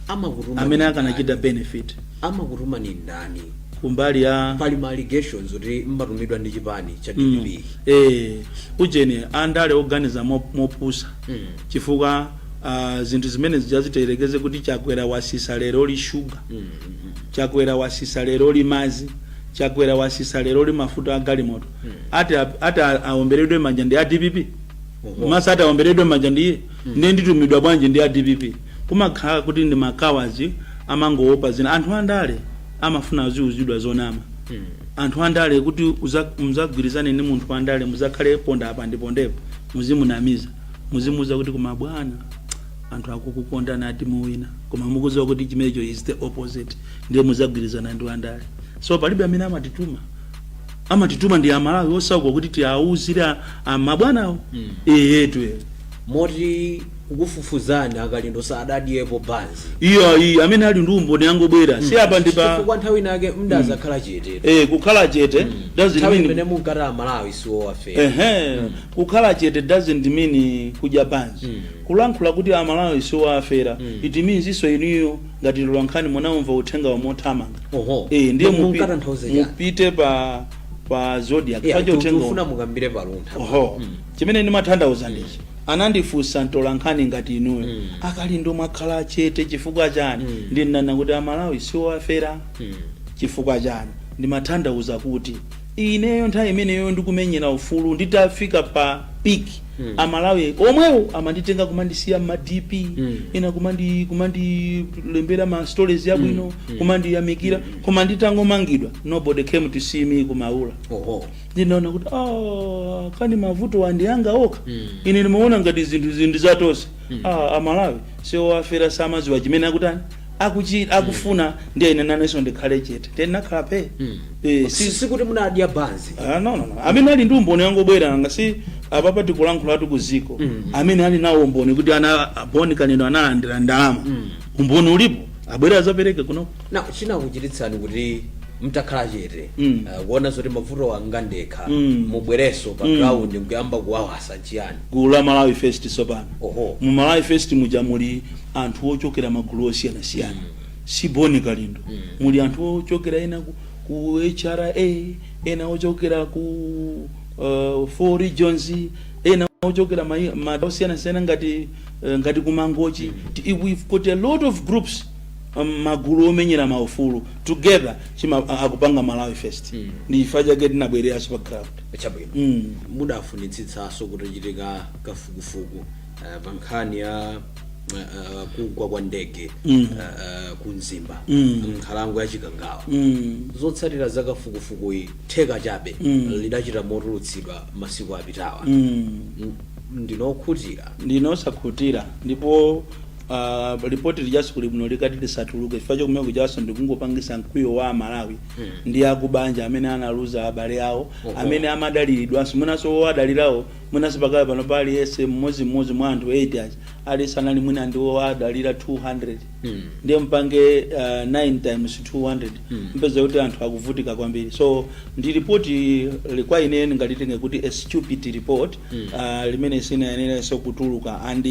amakutuma amene akanachita benefit amakutuma ni ndani kumbali ya pali ma allegations kuti mmatumidwa ndi chipani cha dpp eh ujeni andale oganiza mo- mopusa chifukwa ah, zinthu zimene zija tiyerekeze kuti chakwera wasisa leroli shuga chakwera wasisa leroli mazi chakwera wasisa leroli mafuta a galimoto ati a- ati a- aomberedwe manja ndi a dpp mesa ati aomberedwe manja ndi iye ndiye nditumidwa bwanji ndi a dpp kumakhala kuti ndi ma cowards amangoopa zina anthu andale amafuna aziuzidwa zonama anthu andale kuti uza- muzagwirizane ndi munthu wandale muzakhale ponda apa ndipondepo muzimunamiza muzimuuza kuti koma bwana anthu akukukondani ati muwina koma mukuziwa kuti chimenecho is the opposite ndiye muzagwirizana ndi wandale so palibe amene amatituma amatituma ndi amalawi osauka kuti tiauzire amabwanawo eyetu e. moti kukufufuzani a kalindo sadadyepo banzi iyo ayi amene ali ndi umboni angobwera si apa ndi pa chifukwa nthawi inake mdazakhala chete eh, kukhala chete doesn't nthawi mean- imene munkati amalawi siwowafera ehe kukhala chete doesn't mean kudya banzi kulankhula kuti amalawi siwowafera it means iso inuyo ngati mtolankhani munaumva uthengawo mothamanga Oho. eh ndiye Mu- mupi- munkatanthauza chani? mupite pa pa zodiak Yeah, pacho uthengawo tikufuna mukambire pa luntha oho chimene ndimathandauza ndichi anandifunsa mtolankhani ngati inuyo a kalindo mwakhala chete chifukwa chani ndinanena kuti amalawi siwowafera chifukwa chani ndimathandauza kuti Ineyo nthawi imeneyo ndikumenyera ufulu nditafika pa peak a Malawi omwewo amanditenga kumandisiya mma DP ena kumandi kumandilembera ma stories abwino kumandiyamikira koma nditangomangidwa nobody came to see me ku Maula oho ndinaona kuti "Ah, kani mavutowa ndi anga okha ine ndimaona ngati zinthuzi ndi zatonse ah, amalawi si owafera samaziwa chimene akutani akuchi akufuna ndiye ine nanenso ndikhale chete ndiye ndinakhala phee Eh, si- Si- sikuti munadya banzi Ah, no, no, no. amene ali ndi umboni angobwera nanga si apapa tikulankhulatu ku ziko amene ali nawo umboni kuti ana a Boni Kalindo analandira ndalama umboni ulipo abwera azapereke kuno na chinakuchititsani kuti mtakhala chete Mm. ah, kuona zoti mavuto anga ndekha Mm. mubwerenso pa ground nkuyamba kuwawasa chiyani gulu la Malawi First sopano oho mu Malawi First muja muli anthu ochokera magulu osiyanasiyana si boni kalindo muli anthu ochokera ena ku, ku hra ena ochokera ku uh, four regions ena ochokera mai- madera osiyanasiyana ngati eh, ngati kumangochi Ti- we've got a lot of groups um, magulu omenyera maufulu together chima a- akupanga malawi first ndi chifukwa chake tinabwereranso pa ground chabwino mm. mudafunitsitsanso kutachitika kafukufuku uh, pa nkhani ya uh, uh, kugwa kwa ndege mm. uh, uh, ku mzimba mm. nkhalango ya chikangawa mm. zotsatira za kafukufukuyi theka chabe mm. lidachita motulutsidwa masiku apitawa mm. ndinu okhutira ndine osakhutira ndipo uh, ripoti lijaso kuli bwino likati lisatuluke chifukwa chakumene kujaso ndikungopangisa mkwiyo wa amalawi hmm. ndi akubanja amene analuza abale awo Oho. amene amadaliridwanso mwinanso wo adalirawo Mwinanso pakali pano pa aliyense mmodzimmodzi mwa anthu 8 aja aliyense anali mwina ndi owadalira 200 Mm. ndiye mpange uh, 9 times 200 Mm. mpeza kuti anthu akuvutika kwambiri so ndi ripoti li- kwa ine ndingalitenge kuti a stupid report Mm. uh, limene sinayenerenso kutuluka and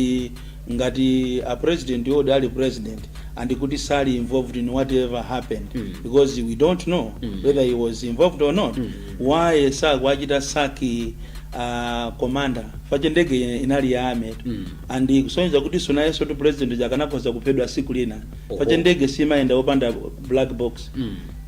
ngati a president odi ali president and kuti sali involved in whatever happened because we don't know whether he was involved or not why sakuachita sack uh, commander chifukwa ndege inali ya army and kusonyeza kuti so nayensotu president uja akanakhoza kuphedwa siku lina chifukwa Oho. ndege simayenda opanda black box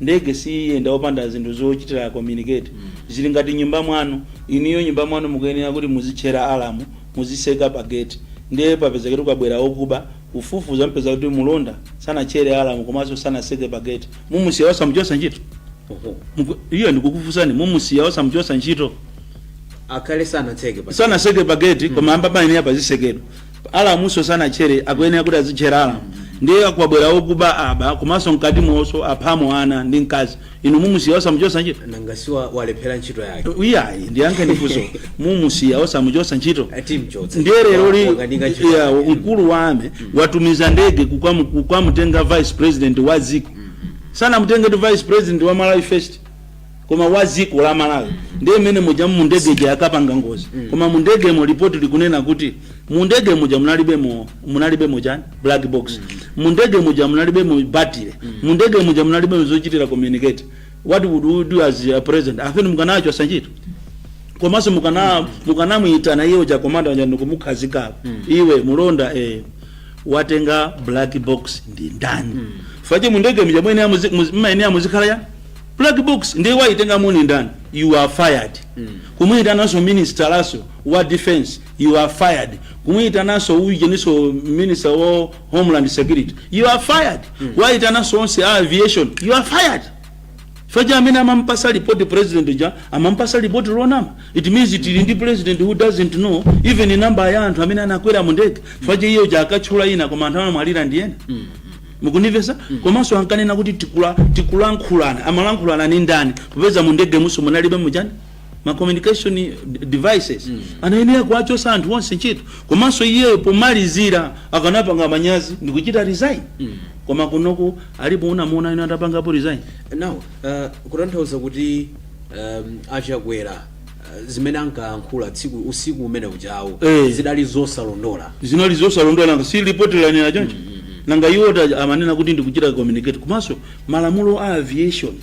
ndege siyenda opanda zinthu zochitira communicate zili ngati nyumba mwanu inuyo nyumba mwanu mukuyenera kuti muzitchera alamu muziseka pa gate ndiye papezeketu kwabwera okuba kufufuza mupeza kuti mulonda sanatchere alarm komanso sanaseke pa gate mumusiya osamuchosa ntchito? Muku- iyo ndikukufusani mumusiya osamuchosa ntchito akhale sanatseke pa sanaseke pa gate koma amba payenera pazisekedwa alamuso sanatchere akuyenera kuti azitchera alamu ndiye kwabwera okuba aba komanso mkatimonso aphamo ana ndi mkazi inu mumusiya osamuchotsa ntchito nanga siwa walephera ntchito yake iyayi ndiyankheni funso mumusiya osamuchotsa ntchito timchotsa ndiye lero wakanika ntchito ya, yake. mkulu wa army watumiza ndege kukamu- kukamutenga vice president wa dziko sanamutenge tu vice president wa malawi first koma wa dziko la malawi ndiye mmene muja mundege ija yakapanga ngozi koma mundegemo lipoti likunena kuti mundege muja munalibemo munalibemo chani black box mundege muja munalibemo battery mundege muja munalibemo zochitira communicate what would you do as a president a feni mukanachosa ntchito komanso mukana mukanamuyitana iye uja komanda uja ndikumukhazika iwe mulonda eh, watenga black box ndi ndani paja mundege muja mwene amuzi- muzi- mmaene amuzikhala ya black box ndiye wayitengamo ndi ndani you are fired kumuyitananso minisitalaso wa defense You are fired. Kumuitananso ujeniso minister wa homeland security. You are fired. Mm. Waitananso onse a aviation. You are fired. Paja amene amampasa report president uja amampasa report lonama. It means it ndi president who doesn't know even number ya anthu amene anakwera mu ndege. Paja iye uja ankatchula ena koma anthu anamwalira ndi ena. Mm. mukundimvesa mm. komanso ankanena kuti tikula tikulankhulana amalankhulana ni ndani popeza mu ndege mujaso munalibe ujeni ma communication devices anayenera kuwachosa anthu onse ntchito komanso iyeyo pomalizira akanapanga manyazi ndikuchita resign koma kunoku alipo unamuona ine atapangapo resign now uh, kutanthauza kuti um, a Chakwera uh, zimene ankayankhula tsiku usiku umene ujawo Eh. zinali zosalondola zinali zosalondola nanga si lipoti lanena choncho nanga iwo ta- amanena kuti ndikuchita communicate komanso malamulo a aviation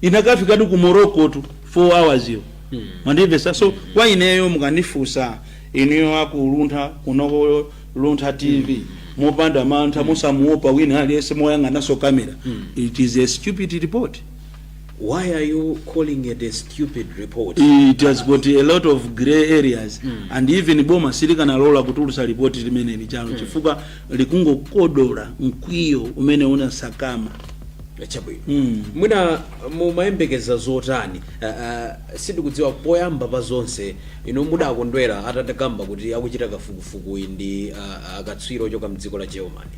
inakafikatu ku morocco tu 4 hours yo mwandimvesa so kwa ineyo mukandifunsa inuyo a ku Luntha kunoko luntha tv mopanda mantha mosamuopa wina aliyense moyang'anaso kamera it is a stupid report why are you calling it a stupid report it has got a lot of grey areas and even boma silikanalola kutulusa report limene lija lo chifukwa likungokodola mkwiyo umene unasakaima chabwino Mm. mwina mumayembekeza zotani uh, uh, sindikudziwa poyamba pa zonse inu mudakondwera atatakamba kuti akuchita kafukufukuyi ndi uh, akatswiri ochoka mdziko la germany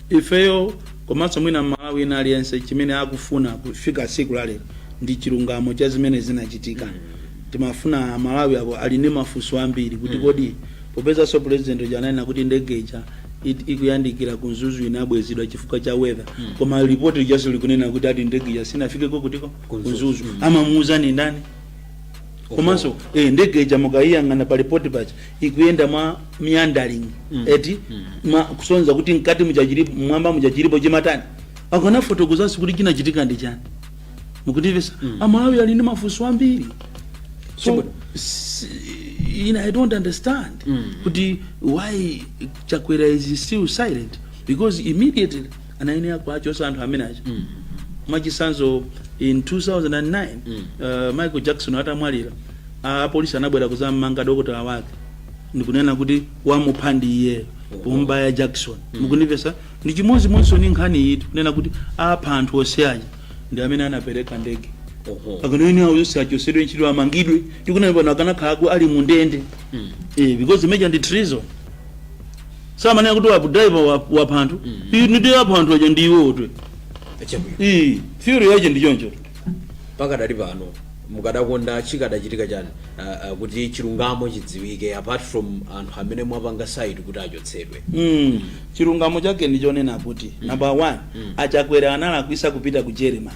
ifeyo komanso mwina m'Malawi wina aliyense chimene akufuna kufika siku la lero ndi chilungamo cha zimene zinachitika timafuna aMalawi pano ali ndi mafunso ambiri kuti kodi Popezanso president uja ananena kuti ndege ija it- ikuyandikira ku mzuzu inabwezedwa chifukwa cha weather koma report lijaso likunena kuti ati ndege ija sinafikeko kutiko ku mzuzu amamuuza ni ndani komanso eh, ndege ija mukayiyang'ana pa report paja ikuyenda mwa meandering eti mwa kusonza kuti mkati muja chilipo m'mwamba muja chilipo chimachitika akanafotokozanso kuti chinachitika ndi chani mukundimvetsa Amalawi ali ndi mafunso ambiri so s- ine I don't understand kuti why chakwera is still silent because immediately anayenera kuachosa anthu amene aja mwachisanzo in 2009 uh, michael jackson atamwalira apolisi anabwera kuzammanga dokotala wake ndikunena kuti wamupha ndi iyeyo kumubaya Jackson mukundimvetsa Ndi chimodzimodzinso ndi nkhani iyi tikunena kuti apha anthu onse aja ndi amene anapereka ndege akanayenera awo onse achosedwe ntchito amangidwe tikunena pano akanakhala ku- ali mu ndende eh, because imeja ndi treason samanena kuti wapha driver wa- wapha anthu ndi apha anthu aja ndi iwowo chabwino Eh, theory yache ndi choncho pakadali pano mukadakonda chikadachitika chani uh, uh, kuti chilungamo chidziwike apart from anthu amene mwapanga cite kuti achotsedwe Mm. Chilungamo chake ndi chonena kuti number one a Chakwera analakwisa kupita ku Germany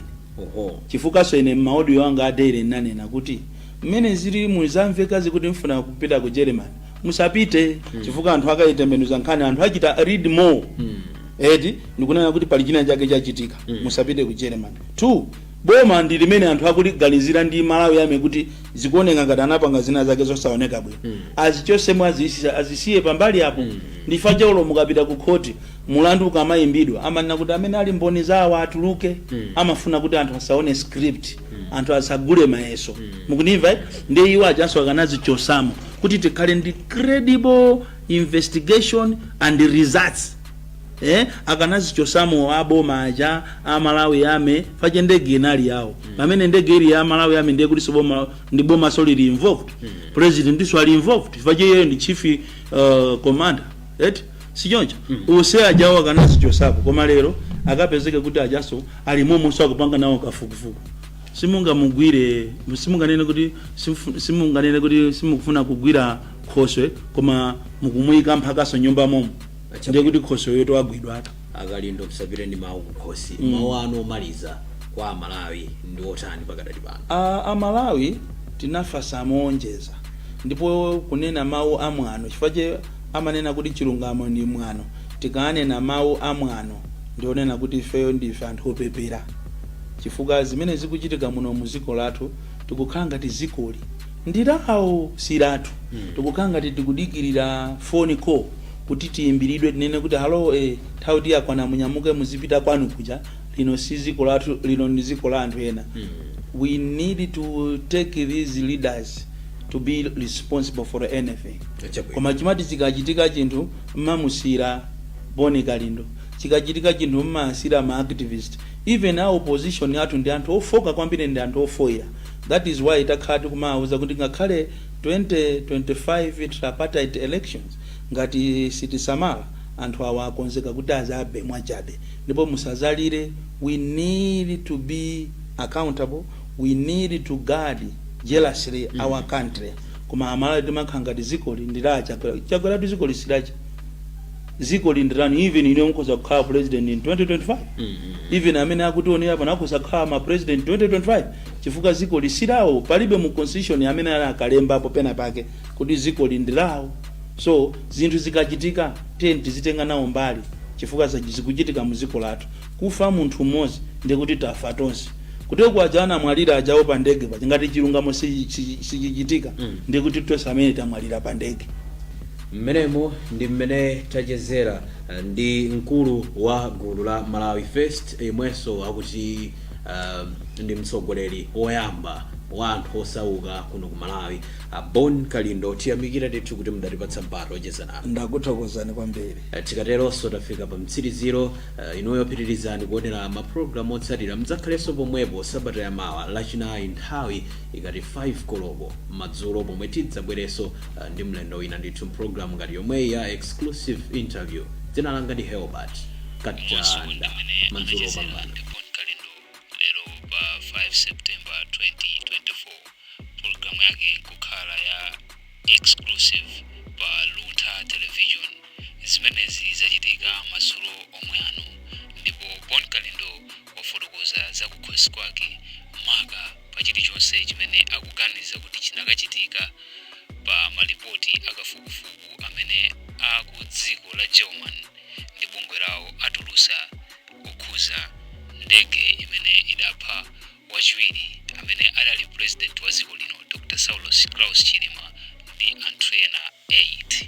chifukwaso ine mma audio anga a daily ndinanena kuti mmene zililimu zamvekazi kuti mufuna kupita ku Germany musapite chifukwa anthu akaitembenuza nkhani anthu achita read more eti ndikunena kuti pali china chake chachitika musapite ku Germany two Boma ndi limene anthu akuliganizira ndi Malawi army kuti zikuoneka ngati anapanga zinazake zosaoneka bwino azichosemo azisi- azisiye pambali apo ndi chifukwa chake mukapita ku khoti mulandu ukamayimbidwa amanena kuti amene ali mboni za awa atuluke amafuna kuti anthu asaone script anthu asagule mayeso mukundimva eh? ndiye iwo ajanso akanazichosamo kuti tikhale ndi credible investigation and results ee akanazichosamo a boma aja a Malawi army chifukwa ndege inali yawo pamene ndege ili ya Malawi army ndiye kutinso boma ndi bomaso lili involved president ndiso ali involved chifukwa iyeyo ndi chief uh, commander eti sichoncho onse ajawo akanazichosapo koma lero akapezeke kuti ajaso ali momonso akupanga nawo kafukufuku simungamugwire simunganene kuti simufu- simunganene kuti simukufuna kugwira khoswe koma mukumuyika mphakaso nyumba momo ndiye kuti khosweyotu wagwidwatu a Kalindo musapite ndi mawu kukhosi mawu anu omaliza kwa amalawi ndi otani pakadali pano a, a malawi tinafatsa moonjeza ndipo kunena mawu a mwano chifukwa chake amanena kuti chilungamo ndi mwano tikanena mawu a mwano ndionena kuti ifeyo ndife anthu opepera chifukwa zimene zikuchitika muno mu dziko lathu tikukhala ngati zikoli Ndilawo silathu tikukhala ngati tikudikilira phone call kuti tiyimbilidwe tinene kuti hallo eh nthawi yoti yakwana munyamuke muzipita kwanu kuja lino si dziko lathu lino ndi dziko la anthu ena we need to take these leaders to be responsible for anything Chabwino. koma chimati chikachitika chinthu mmamusiyira boni kalindo chikachitika chinthu mmasiyira ma activist even a opposition athu ndi anthu ofooka kwambiri ndi anthu ofoira that is why takhala tikumawauza kuti ngakhale 2025 tripartite elections ngati sitisamala anthu awa akonzeka kuti azabe mwachabe ndipo musazalire we need to be accountable we need to guard jealously our country koma amalawi timakhala ngati zikoli ndi la chakwera chakweratu zikoli silacha zikoli ndilanu even inuyo mukhoza kukhala president in 2025 even amene akutionera pano akhoza kukhala ma president 2025 chifukwa zikoli silawo palibe mu constitution amene anakalembapo pena pake kuti zikoli ndilawo so zinthu zikachitika tiye tizitenga nawo mbali chifukwa zachi- zikuchitika mu ziko lathu kufa munthu mmodzi ndiye kuti tafa tonse kuti kwa aja anamwalira ajawo pa ndege paja ngati chilungamo sichi- sichi- sichichitika ndiye kuti tonse amene tamwalira pa ndege Mmenemo ndi mmene tachezera ndi mkulu wa gulu la Malawi First yemwenso akuti ndi mtsogoleri woyamba wa anthu osauka kuno ku Malawi, a Bon Kalindo. Tiyamikire ndithu kuti mudatipatsa mpata wocheza nanu. Ndakuthokozani kwambiri. Tikateronso tafika pamtsiriziro. Inuyo pitirizani kuonera mapulogalamu otsatira. Mudzakhalenso pomwepo sabata yamawa, Lachinayi nthawi ikati 5 koloko madzulo pomwe tidzabwerenso. uh, ndi mlendo wina ndithu m'programu ngati yomweyi ya exclusive interview dzina langa ndi herbert katanda madzulo opambana Bon Kalindo lero pa 5 September 2024 programu yake kukhala ya exclusive pa Luntha Television zimenezi zachitika madzulo omwe ano ndipo Bon Kalindo wafotokoza za kukhosi kwake maka pa chilichonse chimene akuganiza kuti chinakachitika pa malipoti a kafukufuku amene a ku dziko la german ndi bungwe lawo atulusa kukhuza ndege imene idapha wachiwiri amene adali president wa dziko lino dr saulos klaus chilima ndi anthu ena 8